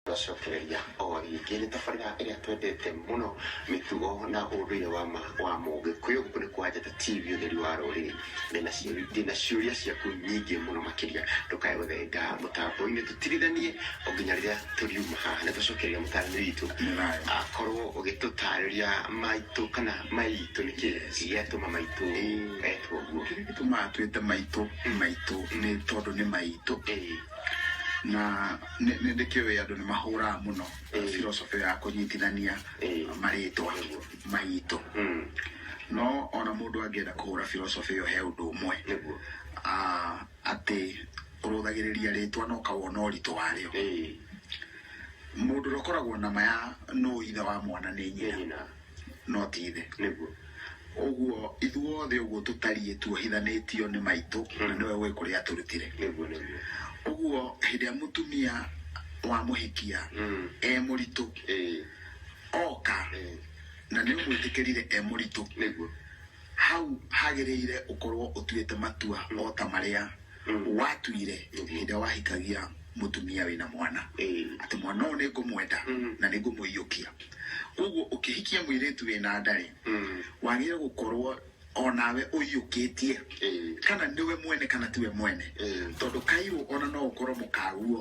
Twacokereria o rĩngĩ nĩ tabarĩra ĩrĩa twendete mũno mĩtugo na ũndũire wa ma wa mũgĩkũyũ gũkũ nĩ kwa njata tv ũtheri wa rũrĩrĩ ndĩna ciũria ndĩna ciũria ciaku nyingĩ mũno makĩria ndũkae gũthenga mũtambo-inĩ tũtirithanie o nginya rĩrĩa tũriuma haha nĩ twacokereria mũtarani witũ akorwo ũgĩtũtarĩria maitũ kana maitũ nĩ kĩ gĩatũma maitũ etwo ũguo kĩrĩa gĩtũmaga twĩte maitũ maitũ nĩ tondũ nĩ maitũ Ĩĩ. na nĩ nĩ- nĩ kĩũĩ andũ nĩ mahũraga mũno Ĩĩ. philosophy ya kũnyitithania Ĩĩ. marĩtwa Nĩguo. maitũ Mm, no ona mũndũ angĩenda kũhũra philosophy ĩyo he ũndũ ũmwe nĩguo Ah, atĩ ũrũthagĩrĩria rĩtwa no kawona ũritũ warĩo Ĩĩ, mũndũ ũrĩa ũkoragwo na ma ya nũ ithe wa mwana nĩ nĩ nyina nyina no ti ithe nĩguo ũguo ithuothe ũguo tũtariĩ tuohithanĩtio nĩ maitũ na nĩwe ũĩ kũrĩa tũrutire nĩguo nĩguo ũguo hĩndĩ ĩrĩa mũtumia wa mũhikia Mm. e mũritũ ĩĩ oka ĩĩ na nĩ ũmwĩtĩkĩrire e mũritũ nĩguo hau hagĩrĩire ũkorwo ũtuĩte matua o ta marĩa watuire hĩndĩ ĩrĩa wahikagia mũtumia wĩna mwana atĩ mwana ũyũ nĩ ngũmwenda na nĩ ngũmũiyũkia koguo ũkĩhikia mũirĩtu wĩna ndarĩ wagĩrĩire gũkorwo onawe ũiyũkĩtie kana nĩwe mwene kana tiwe mwene tondũ kairũ ona no ũkorwo mũkaguo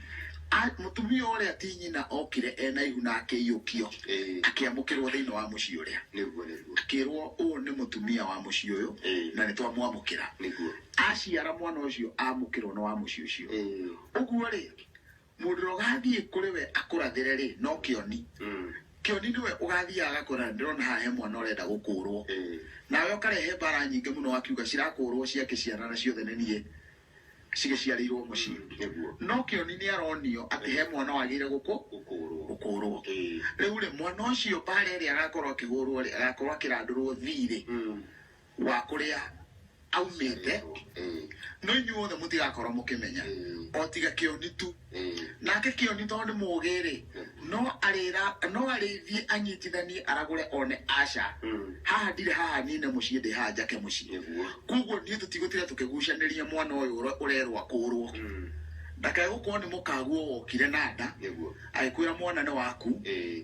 A- Mũtumia ũrĩa ti nyina okire e na ihu na akĩiyũkio, Ĩĩ. akĩamũkĩrwo thĩinĩ wa mũciĩ ũrĩa. Nĩguo, nĩguo. Akĩrwo ũũ nĩ mũtumia wa mũciĩ ũyũ, Ĩĩ. na nĩtwamwamũkĩra. Nĩguo. Aciara mwana ũcio amũkĩrwo nĩ wa mũciĩ ũcio. Ĩĩ. Ũguo-rĩ, mũndũ ũrĩa ũgathiĩ kũrĩ we akũrathĩre-rĩ, no kĩoni. Mm. Kĩoni nĩwe ũgathiaga agakũra, na ndĩrona haha he mwana ũrenda gũkũũrwo. Ĩĩ. Nawe ũkarehe mbara nyingĩ mũno wakiuga cirakũũrwo ciake ciana na ciothe nĩ niĩ. cigĩciarĩirwo mũciĩ nĩguo no kĩoni nĩ aronio atĩ he mwana wagĩrĩire gũkũ gũkũũrwo gũkũũrwo ĩĩ rĩu rĩ mwana ũcio mbaara ĩrĩa agakorwo akĩhũrwo rĩ agakorwo akĩrandũrwo thiirĩ Mm. wa kũrĩa aumĩte ĩĩ no inyuothe mũtigakorwo mũkĩmenya Mm. o tiga kĩoni tu nake kĩoni tondũ nĩ mũgĩ-rĩ no arĩra no arĩithie anyitithanie aragũre one aca haha ndirĩ haha nine mũciĩ ndĩ haha njake mũciĩ Nĩguo. koguo niĩ tũtigũtira tũkĩgucanĩria mwana ũyũ ũre- ũrerwo akũrwo ndakae gũkorwo nĩ mũkaguo wokire na nda Nĩguo. agĩkwĩra mwana nĩ waku Ĩĩ.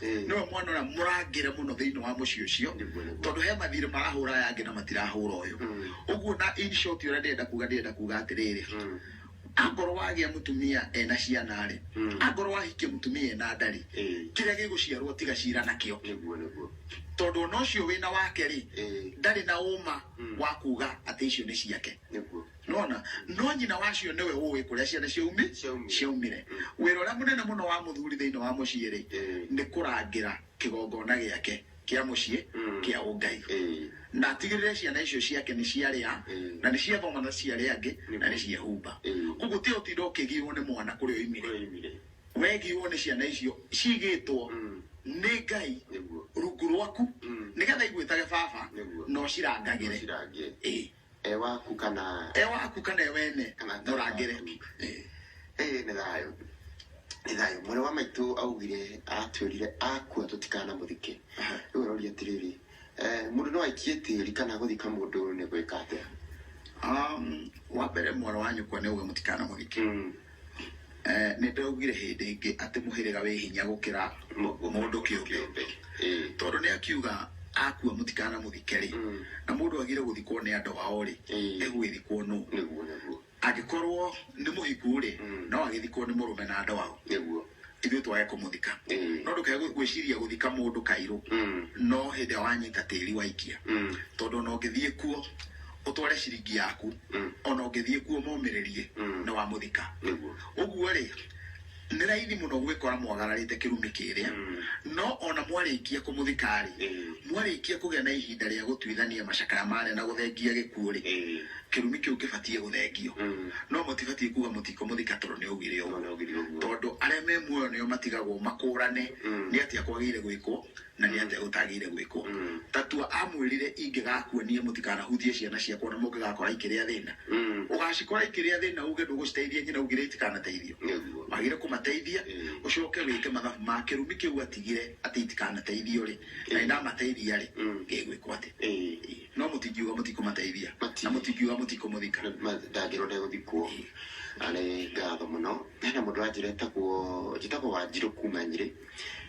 Eh. nĩwe mwana ũrĩa mũrangĩre mũno thĩinĩ wa mũciĩ ũcio Nĩguo, nĩguo. tondũ he mathirĩ marahũra aya angĩ na matirahũra ũyũ Mm. ũguo na in short ũrĩa ndĩrenda kuga ndĩrenda kuga atĩrĩrĩ Mm. angorwo wagĩa mũtumia ena ciana rĩ Mm. angorwo wahikia mũtumia ena ndarĩ Eh. kĩrĩa gĩgũciarwo tiga cira nakĩo Nĩguo, nĩguo. tondũ ona ũcio wĩna wake rĩ Eh. ndarĩ na ũma Mm. wa kuga atĩ icio nĩ ciake Nĩguo. nona no nyina wacio nĩwe ũĩ kũrĩa ciana ciaumi Ciaumire. ciaumire Mm. wĩra ũrĩa mũnene mũno wa mũthuri thĩinĩ wa mũciĩ rĩ Eh. nĩ kũrangĩra kĩgongona gĩake kĩa mũciĩ Mm. kĩa ũngai Eh. na atigĩrĩre ciana icio ciake nĩ ciarĩa Mm. na nĩ ciathoma na ciarĩa angĩ Nĩ na nĩ guo. ciehumba Mm. koguo ti ũtinda ũkĩgirwo nĩ mwana kũrĩa oimire Oimire. wegirwo nĩ ciana icio cigĩtwo Mm. nĩ ngai Nĩguo. rungu rwaku Mm. nĩgetha igwĩtage baba Nĩguo. no cirangagĩre Cirangĩre. Ĩĩ. e waku kana e waku kana e wene Kana thayũ mũrangĩre waku. Eh. ĩĩ nĩ thayũ nĩ thayũ mwarĩ wa maitũ augire atwĩrire akua tũtikanamũthike Aha. rĩu aroria atĩrĩrĩ eh, mũndũ no aikie tĩri kana gũthika mũndũ nĩ gwĩka atĩa Um, wa mbere mwana wa nyũkwa nĩ uga mũtikana mũthike Nĩ ndaugire hĩndĩ ĩngĩ atĩ mũhĩrĩga wĩ hinya gũkĩra mũndũ kĩũmbe, tondũ nĩ akiuga akua mũtikanamũthike rĩ, na mũndũ agĩrĩire gũthikwo nĩ andũ ao rĩ, egũgĩthikwo nũ? Angĩkorwo nĩ mũhiku rĩ, no agĩthikwo nĩ mũrũme na andũ ao. ithuĩ twage kũmũthika Mm. no ndũkage gwĩ- gwĩciria gũthika mũndũ kairũ Mm. no hĩndĩ ĩrĩa wanyita tĩri waikia Mm. tondũ ona ũngĩthiĩ kuo ũtware ciringi yaku Mm. ona ũngĩthiĩ kuo momĩrĩrie Mm. nĩ wamũthika Nĩguo. ũguo rĩ nĩ raithi mũno gwĩkora mwagararĩte kĩrumi kĩrĩa Mm. no ona mwarĩkia kũmũthika rĩ Mm. mwarĩkia kũgĩa na ihinda rĩa gũtuithania macakaya marĩa na gũthengia gĩkuũ rĩ Eh. kĩrumi kĩu kĩbatiĩ gũthengio no mũtibatiĩ kuga mũtiko mũthika toro nĩ augire ũguo Nĩaugire ũguo. tondũ arĩa me muoyo nĩo matigagwo makũrane nĩ atĩa kwagĩire gwĩkwo na nĩ atĩa gũtagĩire gwĩkwo tatua amwĩrire ingĩgakua niĩ mũtikanahutie ciana ciakwa na mũngĩgakora ikĩrĩa thĩna ũgacikora ikĩrĩa thĩna uge ndũgũciteithia nyina ugire itikanateithio Nĩguo. wagire kũmateithia ũcoke wĩke mathabu ma kĩrumi kĩu atigire atĩ itikanateithio rĩ na nĩ ndamateithia rĩ ngĩgwĩkwo atĩ Ĩĩ. no mũtingiuga mũtikũmateithia Mati- na mũtingiuga mũtikũmũthika ndangĩrwo ndegũthikwo arĩ ngatho mũno hena mũndũ wanjĩra etagwo njĩtagwo wanjirũ kuma nyirĩ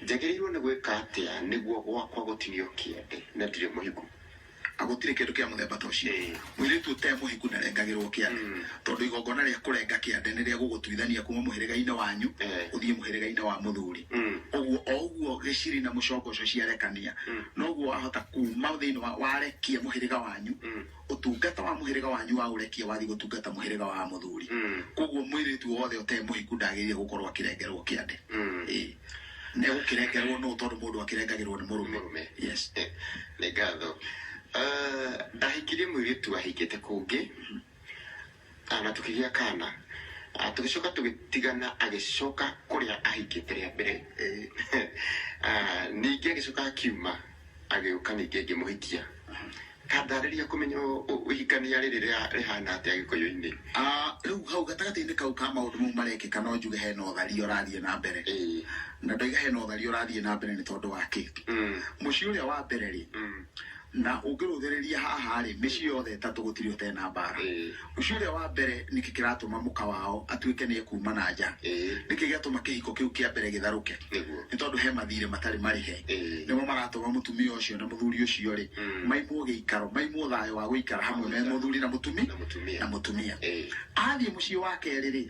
njagĩrĩirwo nĩ gwĩka atĩa nĩguo gwakwa gũtinio kĩande na ndirĩ mũhiku agũtirĩ kĩndũ kĩa mũthemba ta ũcio Ĩĩ. mũirĩtu ũte mũhiku ndarengagĩrwo kĩande Mm. tondũ igongona rĩa kũrenga kĩande nĩ rĩa gũgũtuithania kuma mũhĩrĩga-inĩ wanyu Ĩĩ. ũthiĩ mũhĩrĩga-inĩ wa mũthuri Mm. ũguo o ũguo gĩciri na mũcongo ũcio ciarekania Mm. noguo wahota kuma thĩinĩ wa warekia mũhĩrĩga wanyu Mm. ũtungata wa mũhĩrĩga wanyu wa ũrekia wathiĩ gũtungata mũhĩrĩga wa mũthuri Mm. koguo mwĩrĩtu wothe ũtemũhiku ndagĩrĩire gũkorwo akĩrengerwo kĩande Mm. Ĩĩ. nĩ gũkĩrengerwo nũ tondũ mũndũ akĩrengagĩrwo nĩ mũrũme Mũrũme. yes Eh, nĩ ngatho Ah, ndahikirie mũirĩtu ahingĩte kũngĩ Ah, na tũkĩgĩa kana Ah, tũgĩcoka tũgĩtigana agĩcoka kũrĩa ahikĩte rĩa mbere Eh, ah, ningĩ agĩcoka akiuma agĩũka ningĩ ngĩmũhikia kandarĩria kũmenya ũ- ũ- ũhikania rĩrĩ rĩa- rĩhana atĩa gĩkũyũ-inĩ Ah, rĩu hau gatagatĩ-inĩ kau ka maũndũ mau marekĩka no njuge hena ũtharia ũrathiĩ na mbere Ĩĩ. na ndoiga hena ũtharia ũrathiĩ na mbere nĩ tondũ wa kĩ Mm, mũciĩ ũrĩa wa mbere rĩ mm, na ũngĩrũthĩrĩria haha rĩ mĩciĩ yothe ĩtatũ gũtirĩ ũtee na mbara Ĩĩ, mũciĩ ũrĩa wa mbere nĩkĩ kĩratũma mũka wao atuĩke nĩ ekuma na nja ĩĩ, nĩkĩ gĩatũma kĩhiko kĩu kĩa mbere gĩtharũke nĩguo. nĩ tondũ he mathirĩ matarĩ marĩhe Ĩĩ. nĩmo maratũma mũtumia ũcio na mũthuri ũcio rĩ Mm. maimwo gĩikaro maimwo thayũ wa gũikara hamwe me mũthuri na mũtumi Na mũtumia. na mũtumia Ĩĩ. athiĩ mũciĩ wa kerĩ rĩ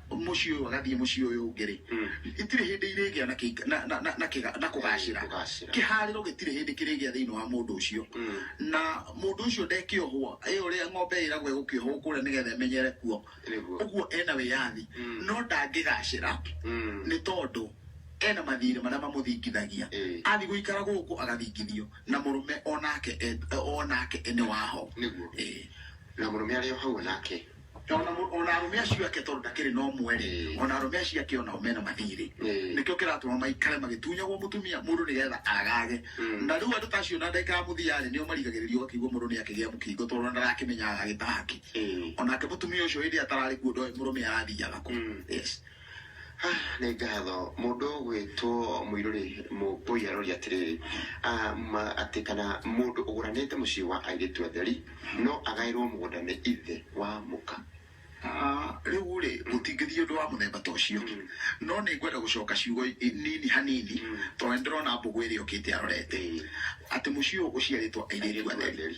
mũciĩ ũyũ agathiĩ mũciĩ ũyũ ũngĩ rĩ itirĩ hĩndĩ irĩgĩa na kĩika- na- na- na- na kĩga- na kũgacĩra Kũgacĩra. kĩharĩro gĩtirĩ hĩndĩ kĩrĩgĩa thĩinĩ wa mũndũ ũcio na mũndũ ũcio ndekĩohwo ĩ ũrĩa ng'ombe ĩragwo ĩgũkĩohwo kũrĩa nĩgetha ĩmenyere kuo Nĩguo. ũguo ena wĩyathi no ndangĩgacĩra nĩ tondũ ena mathirĩ marĩa mamũthingithagia Ĩĩ. athiĩ gũikara gũkũ agathingithio na mũrũme onake e- onake nĩ waho Nĩguo. Ĩĩ. na mũrũme arĩ o hau onake ona mu- ona arume acio ake tondu ndakiri no mweri ona arume acio ake onao mena mathiri Mm. nikio kiratuma maikare magitunyagwo mutumia mundu nigetha agage Mm. na riu andu tacio na ndeka muthiari nio marigagiririo akigwo mundu ni akigia mukingo tondu ndarakimenya agagitahaki Mm. onake mutumia ucio hindi atarari kuo ndoe murume athiaga ku Mm. yes nĩ ngatho mũndũ ũgwĩtwo mũirũ rĩ mũkũi aroria atĩrĩrĩ ah, ma- atĩ kana mũndũ ũgũranĩte mũciĩ wa airĩtu atheri no agaĩrwo mũgũnda nĩ ithe wa mũka Ah, rĩu rĩ gũtingĩthiĩ ũndũ wa mũthemba ta ũcio no nĩ ngwenda gũcoka ciugo i- nini hanini tondũ nĩ ndĩrona mbũgũ ĩrĩa ĩũkĩte arorete atĩ mũciĩ ũyũ ũciarĩtwo airĩtu atheri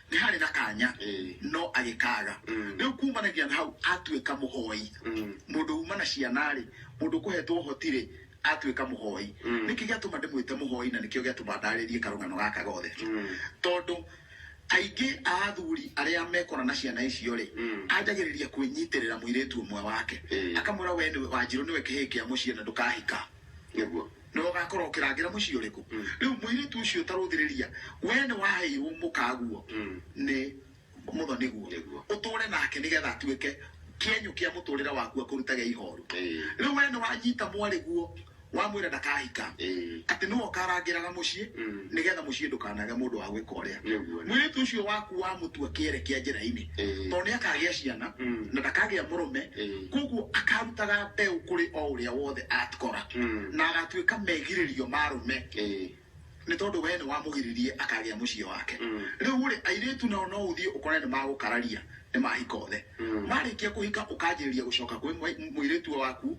nĩ harĩ na kanya Eh. no agĩkaga Mm. rĩu kumanagia na hau atuĩka mũhoi Mm. mũndũ uma na ciana rĩ mũndũ kũhetwo ũhoti rĩ atuĩka mũhoi Mm. nĩkĩ gĩatũma ndĩmwĩte mũhoi na nĩkĩo gĩatũma ndarĩrie karũgano gaka gothe Mm. tondũ aingĩ a athuri arĩa mekora na ciana icio rĩ Mm. anjagĩrĩria kwĩnyitĩrĩra mũirĩtu ũmwe wake Eh. akamwĩra we nĩwe wanjirũ nĩwe kĩhĩĩ kĩa mũciĩ na ndũkahika nĩguo Nĩwe ũgaakorwo ũkĩrangĩra mũciĩ ũrĩkũ? Rĩu mũirĩtu ũcio ta rũthĩrĩria, wee nĩ waheirwo mũkaguo nĩ mũtho nĩguo Nĩguo. ũtũũre nake nĩ getha atuĩke kĩenyũ kĩa mũtũũrĩre waku akũrutage ihooru. Ĩĩ. Rĩu wee nĩ wanyita mwarĩ guo wamwĩra ndakahika, Ĩĩ. atĩ nĩwe ũkarangĩraga mũciĩ nĩ getha mũciĩ ndũkanage mũndũ wa gwĩka ũrĩa. Nĩguo. Mũirĩtu ũcio waku wamũtua kĩere kĩa njĩra-inĩ. Ĩĩ. tondũ nĩ akagĩa ciana Mm. na ndakagĩa mũrũme Ĩĩ. koguo akarutaga mbeũ kũrĩ o ũrĩa wothe atkora Mm. na agatuĩka megirĩrio marũme Ĩĩ. nĩ tondũ wee nĩ wamũgiririe akagĩa mũciĩ wake Mm. rĩu rĩ airĩtu nao no ũthiĩ ũkore nĩ magũkararia nĩ mahika othe Mm. marĩkia kũhika ũkanjĩrĩria gũcoka kwĩ mwe- mũirĩtu waku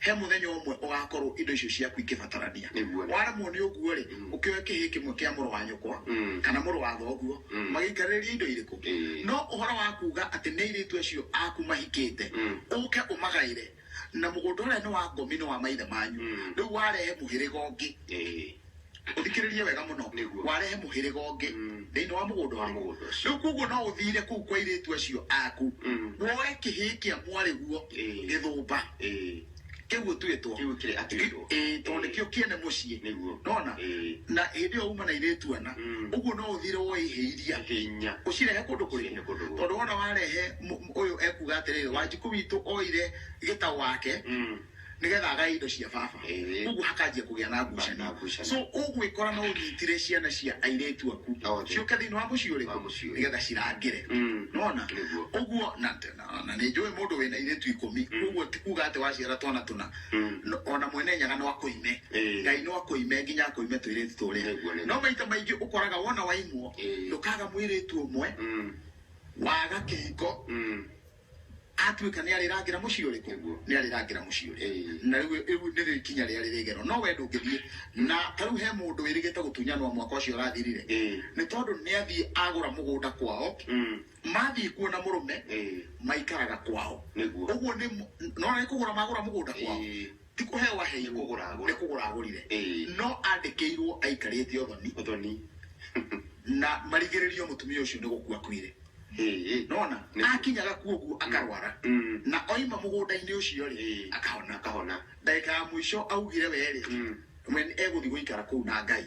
he mũthenya ũmwe ũgakorwo indo icio ciaku ikĩbatarania Nĩguo. waremwo nĩ ũguo rĩ Mm. ũkĩoe kĩhĩ kĩmwe kĩa mũrũ wa nyũkwa Mm. kana mũrũ wa thoguo Mm. magĩikarĩrĩria indo irĩkũ Ĩĩ. no ũhoro wa kuga atĩ nĩ airĩtu acio aku mahikĩte Mm. ũke ũmagaĩre na mũgũnda ũrĩa nĩ wa ngomi nĩ wa maithe manyu Mm. rĩu warehe mũhĩrĩga ũngĩ Ĩĩ. ũthikĩrĩrie wega mũno Nĩguo. warehe mũhĩrĩga ũngĩ Mm. thĩinĩ wa mũgũnda Wa ũrĩa. mũgũnda ũcio. rĩu koguo no ũthire kũu kwa irĩtu acio aku Mm. woe kĩhĩĩ kĩa mwarĩguo Ĩĩ. gĩthũmba Ĩĩ. kĩu ũtuĩtwo Kĩu kĩrĩ atuĩtwo. Ĩĩ, tondũ Ĩĩ. nĩkĩo kĩene mũciĩ Nĩguo. nona Ĩĩ. na hĩndĩ ĩyo uma na irĩtu ana Mm. ũguo no ũthire woe ihĩ iria Hinya. ũcirehe kũndũ kũrĩkũ Ũcirehe kũndũ kũrĩkũ? tondũ wona warehe mũ- mũ- ũyũ ekuga atĩrĩrĩ wanjikũ witũ oire gĩta wake Mm. nĩgetha agae indo cia baba Ĩĩ. koguo hakanjia kũgĩa na Na ngucanio ngucanio. so ũgwĩkora no ũnyitire ciana cia airĩtu aku No, thĩ. ciũke thĩinĩ wa mũciĩ Wa ũrĩkũ mũciĩ ũrĩkũ. nĩgetha cirangĩre Mm. nona Nĩguo. ũguo na na- na nĩ njũĩ mũndũ wĩna airĩtu ikũmi koguo ti kuga atĩ waciara twana tũna Mm. No- ona mwene nyaga no akũime Ĩĩ. ngai no akũime nginya akũime twĩrĩtu tũrĩa Nĩguo, nĩguo. no maita maingĩ ũkoraga wona waimwo Ĩĩ. ndũkaga mwĩrĩtu ũmwe Mm. waga kĩhiko Mm. Atuĩka nĩarĩrangĩra mũciĩ ũrĩkũ? Nĩguo. Nĩarĩrangĩra mũciĩ ũrĩa. Ĩĩ. Na rĩu ĩ- rĩu nĩrĩo ikinya rĩrĩa rĩrĩgerwo. No wee ndũngĩthiĩ. Na ta rĩu he mũndũ wĩrĩgĩte gũtunyanwo mwaka ũcio ũrathirire. Ĩĩ. Nĩ tondũ nĩathiĩ agũra mũgũnda kwao. Mm. Mathiĩ kuo na mũrũme, Ĩĩ. maikaraga kwao. Nĩguo. Ũguo nĩ mũ- nĩwona nĩ kũgũra magũra mũgũnda kwao. Ĩĩ. Ti kũheo aheirwo. Nĩ kũgũra agũra. Nĩ kũgũra agũrire. Ĩĩ. No andĩkĩirwo aikarĩte ũthoni. Ũthoni. Na marigĩrĩrio mũtumia ũcio nĩ gũkua akuire. Ĩĩ. Nĩ wona? Nĩ. Akinya gakua ũguo akarwara. Na oima mũgũnda-inĩ ũcio rĩ, Ĩĩ. akahona. Akahona. Ndagĩka ya mũico augire we rĩ, we egũthiĩ gũikara kũu na Ngai.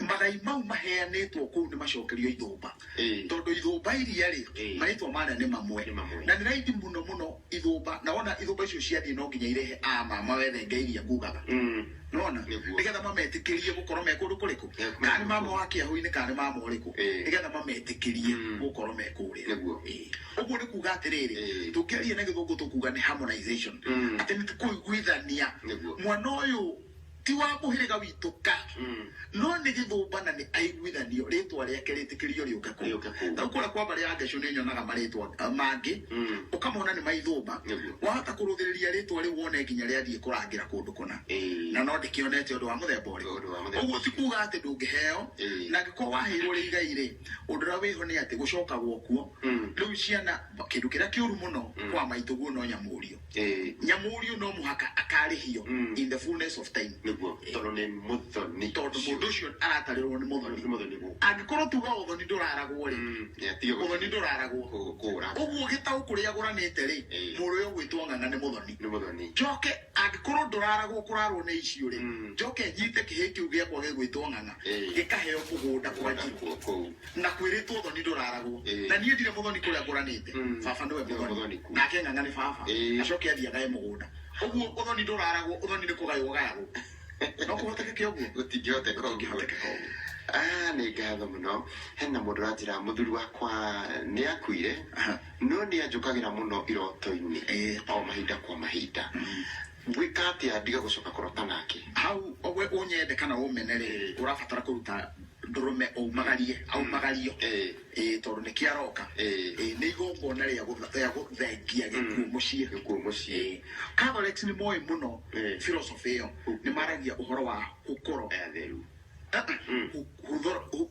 magai mau maheanĩtwo kũu nĩ macokerio ithũmba Ĩĩ. tondũ ithũmba iria rĩ Ĩĩ. marĩtwa marĩa nĩ mamwe Nĩ mamwe. na nĩ raithi mũno mũno ithũmba na wona ithũmba icio ciathiĩ no nginya irehe a mama wethe ngai iria ngugaga Mm. nona Nĩguo. nĩgetha mametĩkĩrie gũkorwo me kũndũ kũrĩkũ Nĩ- kana nĩ mama wa kĩahu-inĩ kana nĩ mama ũrĩkũ Ĩĩ. nĩgetha mametĩkĩrie Mm. gũkorwo me kũrĩa Nĩguo. Ĩĩ. ũguo nĩ kuga atĩrĩrĩ Ĩĩ. tũngĩaria na gĩthũngũ tũkuga nĩ harmonization Mm. atĩ nĩ kũiguithania Nĩguo. mwana ũyũ Ti wa mũhĩrĩga witũ ka, no nĩ gĩthũmba na nĩ aiguithanio, rĩĩtwa rĩake rĩtĩkĩrio rĩũke kũu. Rĩũke kũu. Rĩu kũrĩa kwa mbarĩ ya Geshũ nĩ nyonaga marĩĩtwa eh, mangĩ, ũkamona nĩ ma ithũmba. Nĩguo. Wahota kũrũthĩrĩria rĩĩtwa rĩu wone nginya rĩathiĩ kũrangĩra kũndũ kũna. Ĩĩ. Na no ndĩkĩonete ũndũ wa mũthemba ũrĩkũ. Ũndũ wa mũthemba Ũguo ti ũrĩkũ. kuuga atĩ ndũngĩheo, Ĩĩ. na angĩkorwo waheirwo rĩ igai-rĩ, ũndũ ũrĩa wĩho nĩ atĩ gũcokagwo kuo. Rĩu ciana, kĩndũ kĩrĩa kĩũru mũno kwa maitũguo no nyamũũrio. Eh, nyamũrio no mũhaka akarĩhio Mm. in the fullness of time nĩguo tondũ nĩ mũthoni tondũ mũndũ ũcio aratarĩrwo nĩ mũthoni nĩ mũthoni gũkũ angĩkorwo tuga ũthoni ndũraragwo rĩ Mm, nĩ atige ũthoni ndũraragwo kũ- kũũra ũguo gĩtaũ kũrĩa agũranĩte rĩ Eh. mũrũ ũyũ ũgwĩtwo ng'ang'a nĩ mũthoni nĩ mũthoni njoke angĩkorwo ndũraragwo kũrarwo nĩ icio rĩ Mm. njoke nyite kĩhĩ kĩu gĩakwa gĩgwĩtwo ng'ang'a Eh. gĩkaheo mũgũnda kwa njirũ Kũu- kũu na kwĩrĩtwo thoni ndũraragwo Ĩĩ. na niĩ ndirĩ mũthoni kũrĩa ngũranĩte Mm. baba nĩwe Nĩwe mũthoni mũthoni kũu. nake ng'ang'a nĩ baba Ĩĩ. acoke athiĩ agae mũgũnda ũguo ũthoni ndũraragwo ũthoni nĩ kũgaywo gayagwo no kũhotekeke ũguo gũtingĩhoteka ũguo ũngĩhotekeka ũguo Ah, nĩ ngatho mũno hena mũndũ ũranjĩra mũthuri wakwa nĩ akuire Aha. no nĩ anjũkagĩra mũno iroto-inĩ Ĩĩ. o mahinda kwa mahinda Ngwĩka atĩa ndige gũcoka kũrota nake? Hau we ũnyende kana ũmene rĩ, Ĩĩ. ũrabatara kũruta ndũrũme ũmagarie, aumagario. Ĩĩ. Ĩĩ, tondũ nĩkĩo aroka. Ĩĩ. Ĩĩ, nĩ igongona rĩa gũtha- rĩa gũthengia gĩkuũ mũciĩ. Gĩkuũ mũciĩ. Ĩĩ. Catholics nĩ moĩ mũno Ĩĩ. philosophy ĩyo. Nĩ maragia ũhoro wa hũkũro. Atheru. Ah, ah, hu- huthoro- hu-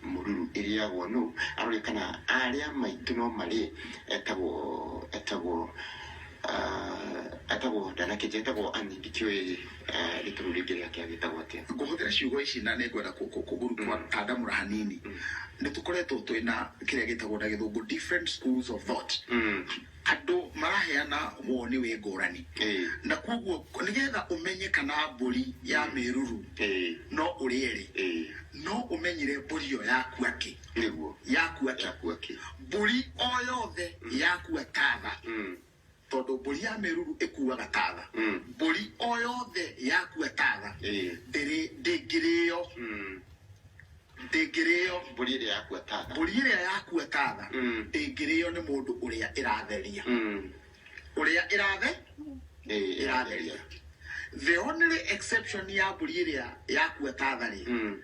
Mũruru ĩrĩagwo nũ? Arore kana arĩa maitũ no marĩe. Etagwo etagwo etagwo ndanakĩnjĩra etagwo Ann ndikĩũĩ rĩtũrũ rĩngĩ rĩake agĩtagwo atĩa. Ngũhũthĩra ciugo ici na nĩngwenda kũgandamũra hanini. Nĩtũkoretwo twĩna kĩrĩa gĩtagwo na gĩthũngũ different schools of thought. andũ maraheana woni wĩ ngũrani Eh. na koguo nĩgetha ũmenye kana mbũri ya mĩruru Eh. no ũrĩe rĩ Eh. no ũmenyire mbũri ĩyo yakua kĩ Nĩguo. yakua kĩ Yakua kĩ. mbũri o yothe yakua tatha Mm. tondũ mbũri ya mĩruru ĩkuaga tatha Mm. mbũri o yothe yakua tatha Eh. ndĩrĩ ndĩngĩrĩyo Mm. ndĩngĩrĩo mbũri ĩrĩa yakua tatha mbũri ĩrĩa yakua tatha Mm. ndĩngĩrĩo nĩ mũndũ ũrĩa ĩratheria Mm. ũrĩa ĩrathe Ĩ, ĩratheria the only exception ya mbũri ĩrĩa yakua tatha rĩ Mm.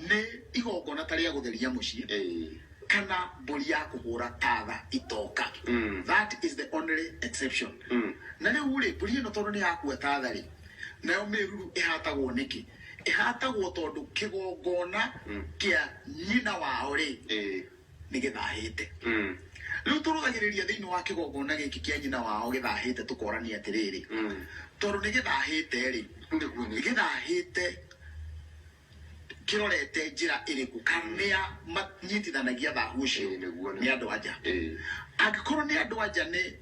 nĩ igongona ta rĩa gũtheria mũciĩ Ĩ. kana mbũri ya kũhũra tatha itoka Mm. that is the only exception Mm. na rĩu rĩ mbũri ĩno tondũ nĩ yakua tatha rĩ nayo mĩruru ĩhatagwo nĩkĩ ĩhatagwo tondũ kĩgongona Mm. kĩa nyina wao rĩ Eh. nĩ gĩthahĩte Mm. rĩu tũrũgagĩrĩria thĩinĩ wa kĩgongona gĩkĩ kĩa nyina wao gĩthahĩte tũkorania atĩrĩrĩ Mm. tondũ nĩ gĩthahĩte rĩ Nĩguo nĩ- gĩthahĩte kĩrorete njĩra ĩrĩkũ kamĩa manyitithanagia thahu ũcio Eh, nĩguo nĩ- nĩ andũ anja Eh. angĩkorwo nĩ andũ anja nĩ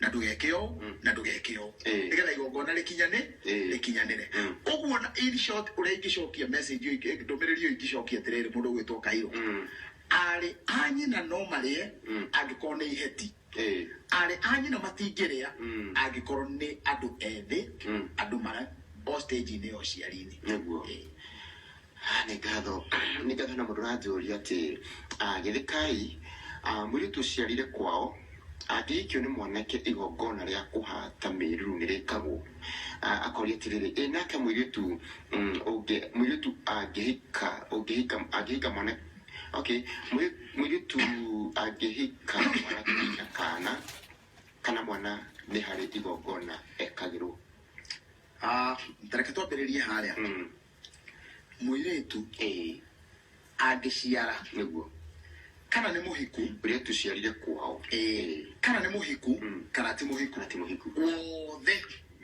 na ndũgeke ũũ Mm. na ndũgeke ũũ Eh. nĩgetha igongona rĩkinyane Eh. rĩkinyanĩre Mm. koguo na in short ũrĩa ingĩcokia message ĩyo ingĩ- ndũmĩrĩri ĩyo ingĩcokia atĩrĩrĩ mũndũ ũgwĩtwo kairũ Mm. arĩ a nyina no marĩe Mm. angĩkorwo nĩ iheti Eh. arĩ a nyina matingĩrĩa Mm. angĩkorwo nĩ andũ ethĩ Mm. andũ mara o stage-inĩ ya ũciari-inĩ Nĩguo. Eh. Ah, nĩ ngatho nĩ ngatho na mũndũ ũranjũria atĩ ah, gĩthĩkai ah, mũirĩtu ũciarire kwao angĩikio nĩ mwanake igongona rĩa kũhata mĩruru nĩ rĩkagwo Ah, akoria atĩrĩrĩ ĩ nake mũirĩtu mm, ũngĩ- mũirĩtu angĩhika ũngĩhika angĩhika mwana okay mũirĩ- mũirĩtu angĩhika mwanake na kana kana mwana nĩ harĩ igongona ekagĩrwo Ah, tareke twambĩrĩrie harĩa Mm. mũirĩtu ĩĩ angĩciara nĩguo kana nĩ mũhiku ũrĩa tũciarire kwao ĩĩ kana nĩ mũhiku Mm. kana ti mũhiku kana ti mũhiku wothe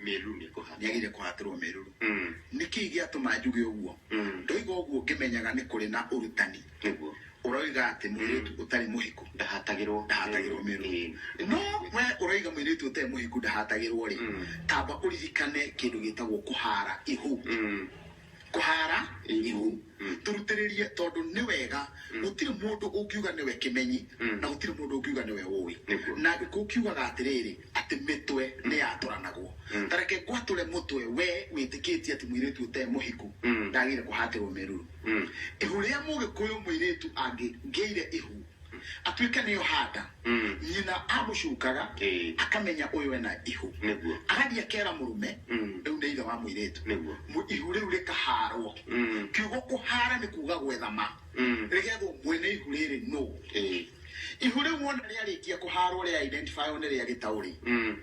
mĩruru nĩ kũhanda nĩagĩrĩire kũhatĩrwo mĩruru Mm, nĩkĩĩ gĩatũma njuge ũguo mm, ndoiga ũguo ngĩmenyaga nĩ kũrĩ na ũrutani nĩguo ũroiga atĩ mwĩrĩtu ũtarĩ mũhiku ndahatagĩrwo ndahatagĩrwo mĩrũ Ĩĩ. no we ũroiga mwĩrĩtu ũtarĩ mũhiku ndahatagĩrwo rĩ Mm. tamba ũririkane kĩndũ gĩtagwo kũhara ihu Mm. kũhara Ihu. ihu Mm. tũrutĩrĩrie tondũ nĩ wega gũtirĩ mũndũ ũngiuga nĩwe kĩmenyi Mm. na gũtirĩ mũndũ ũngiuga nĩwe ũĩ Nĩguo. na angĩkorwo ũkiugaga atĩrĩrĩ atĩ mĩtwe nĩ yatũranagwo Mm. tareke ngwatũre mũtwe we wĩtĩkĩtie atĩ mwĩrĩtu ũtarĩ mũhiku Mm. ndagĩrĩire kũhatĩrwo mĩruru Mm. Ihu rĩa mũgĩkũyũ mũirĩtu angĩngĩire ihu atuĩke nĩyo handa Mm. nyina amũcungaga Eh. akamenya ũyũ ena ihu Nĩguo. agathiĩ akera mũrũme Mm. rĩu nĩ ithe wa mũirĩtu Nĩguo. Mu- ihu rĩu rĩkaharwo Mm. kiugo kũhara nĩ kuga gwethama Mm. rĩgethwo mwene ihu rĩrĩ nũ Eh. ihu rĩu wona rĩarĩkia kũharwo rĩa identify nĩ rĩa gĩtaũ rĩ Mm.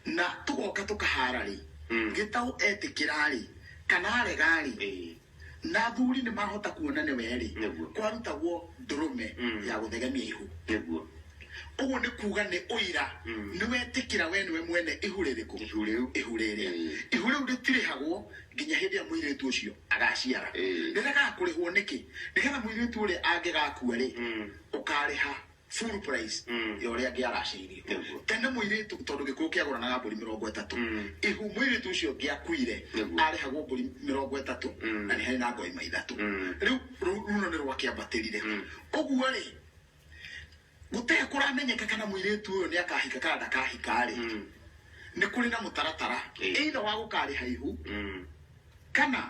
na tũgoka tũkahara rĩ Mm. gĩtaũ etĩkĩra rĩ kana arega rĩ Eh. na athuri nĩ mahota kuona nĩ werĩ Nĩguo. kwarutagwo ndũrũme Mm. ya gũthegemia ihu nĩguo ũguo nĩ kuuga nĩ ũira Mm. nĩ wetĩkĩra we nĩwe mwene ihu rĩrĩkũ ihu rĩu ihu rĩrĩ Mm. ihu rĩu rĩtirĩhagwo nginya hĩndĩ ĩrĩa mũirĩtu ũcio agaciara Mm. rĩragaga kũrĩhwo nĩkĩ nĩgetha mũirĩtu ũrĩa angĩgakua rĩ Mm. ũkarĩha full price Mm. ya ũrĩa angĩaracĩirio Nĩguo. tene mũirĩtu tondũ gĩkũyũ kĩagũranaga mbũri mĩrongo ĩtatũ Mm. ihu mũirĩtu ũcio ngĩakuire Nĩguo. arĩhagwo mbũri mĩrongo ĩtatũ Mm. na nĩ harĩ na ngoima ithatũ Mm. rĩu ru- runo nĩ rwakĩambatĩrire Mm. ũguo rĩ gũtee kũramenyeka kana mũirĩtu ũyũ nĩ akahika kana ndakahika rĩ Mm. nĩ kũrĩ na mũtaratara Ĩĩ. ĩitha wa gũkarĩha ihu Mm. kana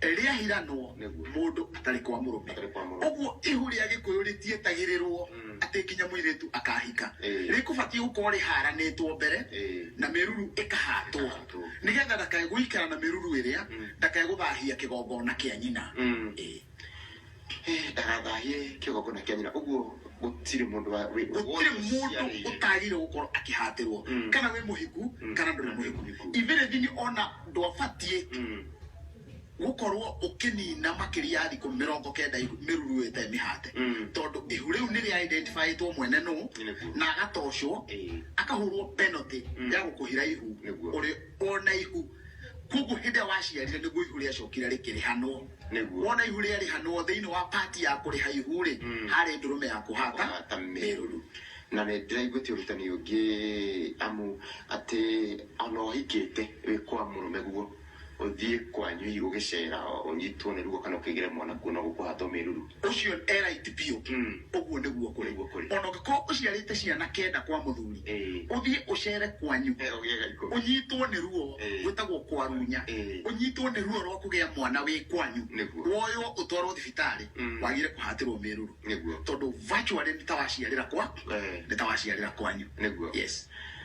rĩahiranwo Nĩguo. mũndũ atarĩ kwa mũrũme Atarĩ kwa mũrũme. ũguo ihu rĩa gĩkũyũ rĩtietagĩrĩrwo Mm. atĩ nginya mũirĩtu akahika Ĩĩ. rĩkũbatiĩ gũkorwo rĩharanĩtwo mbere Ĩĩ. na mĩruru ĩkahatwo Ĩkahatwo. nĩgetha ndakae gũikara na mĩruru ĩrĩa Mm. ndakae gũthahia kĩgongona kĩa nyina Mm. Ĩĩ. ndagathahie kĩgongona kĩa nyina ũguo gũtirĩ mũndũ wa wĩ- gũtirĩ wothe mũndũ ũciarĩire. ũtagĩrĩire gũkorwo akĩhatĩrwo Mm. kana wĩ mũhiku Mm. kana ndũrĩ mũhiku Mũhiku. ibĩrĩthini ona ndwabatiĩ Mm. gũkorwo ũkĩnina makĩria ya thikũ mĩrongo kenda mĩruru ĩte mĩhate Mm. tondũ ihu rĩu nĩ rĩa identifyĩtwo mwene nũ Nĩguo. na agatocwo Ĩĩ. akahũrwo penalty Mm. ya gũkũhira ihu Nĩguo. ũrĩ ona ihu koguo hĩndĩ ĩrĩa waciarire nĩguo ihu rĩacokire rĩkĩrĩhanwo Nĩguo. wona ihu rĩarĩhanwo thĩinĩ wa pati ya kũrĩha ihu-rĩ Mm. harĩ ndũrũme ya kũhata Kũhata mĩrũrũ. mĩrũrũ na nĩ ndĩraiguĩtie ũrutani ũngĩ amu atĩ ona ũhikĩte wĩ kwa mũrũme guo ũthiĩ kwanyu hihi ũgĩcera ũnyitwo nĩ ruo kana ũkĩgĩre mwana kuo no gũkũhatwo mĩruru ũcio e right biũ Mm. ũguo nĩguo kũrĩ Nĩguo kũrĩ. ona ũngĩkorwo ũciarĩte ciana kenda kwa mũthuri Eh. ũthiĩ ũcere kwanyu Eh, ũgĩega ikũmi. ũnyitwo nĩ ruo Eh. gwĩtagwo kwarunya Eh. ũnyitwo nĩ ruo rwa kũgĩa mwana wĩ kwanyu Nĩguo. woywo ũtwarwo thibitarĩ Mm. wagire kũhatĩrwo mĩruru Nĩguo. tondũ virtually nĩ ta waciarĩra kwa Eh. nĩ ta waciarĩra kwanyu Nĩguo. yes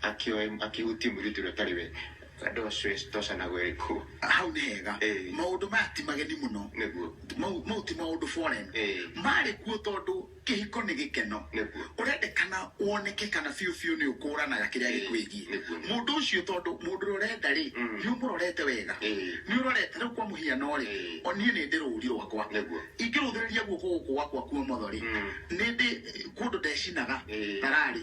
Akĩoe akĩhutie mũirĩtu ũrĩa ũtarĩ we. Ndocoe ndoca na gweri kũ. Hau nĩ hega. Ĩĩ. Maũndũ maya ti mageni mũno. Nĩguo. Mau mau ti maũndũ foreign. Ĩĩ. Marĩ kuo tondũ kĩhiko nĩ gĩkeno. Nĩguo. Ũrendekana woneke kana biũ biũ nĩ ũkũũranaga kĩrĩa Ĩĩ, gĩkwĩgiĩ. nĩguo, nĩguo. Mũndũ ũcio tondũ mũndũ ũrĩa ũrenda rĩ, Mm. nĩ ũmũrorete wega. Ĩĩ. Nĩ ũrorete rĩu kwa mũhiano rĩ, Ĩĩ. o niĩ nĩ ndĩ rũũri rwakwa. Nĩguo. Ingĩrũthĩrĩria guoko gũkũ gwakwa kwa ũmotho rĩ, Mm. nĩ ndĩ kũndũ ndecinaga Ĩĩ. thararĩ.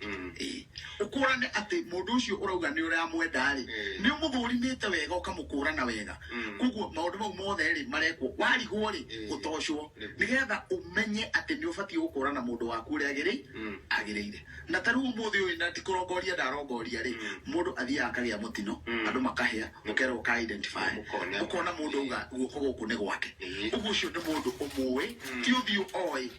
Mm. Ĩĩ. ũkũrane atĩ mũndũ ũcio ũrauga nĩ ũramwenda rĩ Mm. nĩ ũmũthũrimĩte wega ũkamũkũrana wega Mm. koguo maũndũ mau mothe rĩ marekwo warigwo rĩ Mm. gũtocwo Nĩguo. nĩgetha ũmenye atĩ nĩ ũbatiĩ gũkũrana mũndũ waku ũrĩa agĩrĩ Mm. agĩrĩire na ta rĩu ũmũthĩ ũyũ na ndikũrongoria ndarongoria rĩ Mm. mũndũ athiaga akagĩa mũtino Mm. andũ makahĩa ũkerwo ũka identify Ũkone. ũkona mũndũ auga guoko gũkũ nĩ gwake Ĩĩ. ũguo ũcio nĩ mũndũ ũmũĩ ti ũthiũ oĩ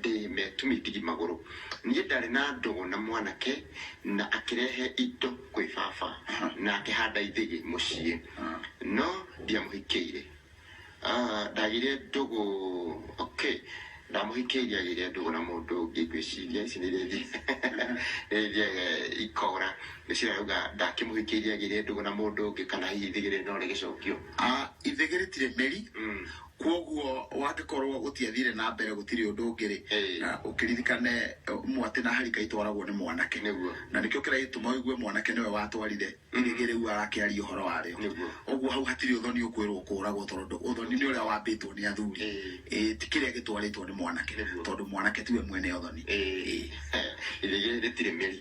ndĩ me tũmĩthigi magũrũ. Niĩ ndarĩ na ndogo na mwanake na akĩrehe indo kwĩ baba na akĩhanda ithĩgĩ mũciĩ no ndiamũhikĩire. Ah, ndagĩire ndũgũ, okay, ndamũhikĩirie agĩire ndũgũ na mũndũ ũngĩ ngwĩciria ici nĩ rĩthia nĩ rĩthia eh, ikora ngwĩciria rauga ndakĩmũhikĩirie agĩire ndũgũ na mũndũ ũngĩ kana hihi ithĩgĩ rĩrĩ no rĩgĩcokio. Ah, ithĩgĩ rĩtirĩ mĩri, Mm. kwoguo wangĩkorwo gũtiathire na mbere gũtirĩ ũndũ ũngĩ-rĩ Ĩĩ. na ũkĩririkane eh, mwatĩ na harika itwaragwo nĩ mwanake Nĩguo. na nĩkĩo kĩrĩa gĩtũma ũigue mwanake nĩwe watwarire irĩgĩ rĩu arakĩaria ũhoro warĩo Nĩguo. ũguo hau hatirĩ ũthoni ũkwĩrwo kũragwo tondũ ũthoni nĩ ũrĩa wambĩtwo nĩ athuri Ĩĩ. Ĩĩ, ti kĩrĩa gĩtwarĩtwo nĩ mwanake Nĩguo. tondũ mwanake tiwe mwene ũthoni Ĩĩ. Ĩĩ. irĩgĩ rĩtirĩ mĩri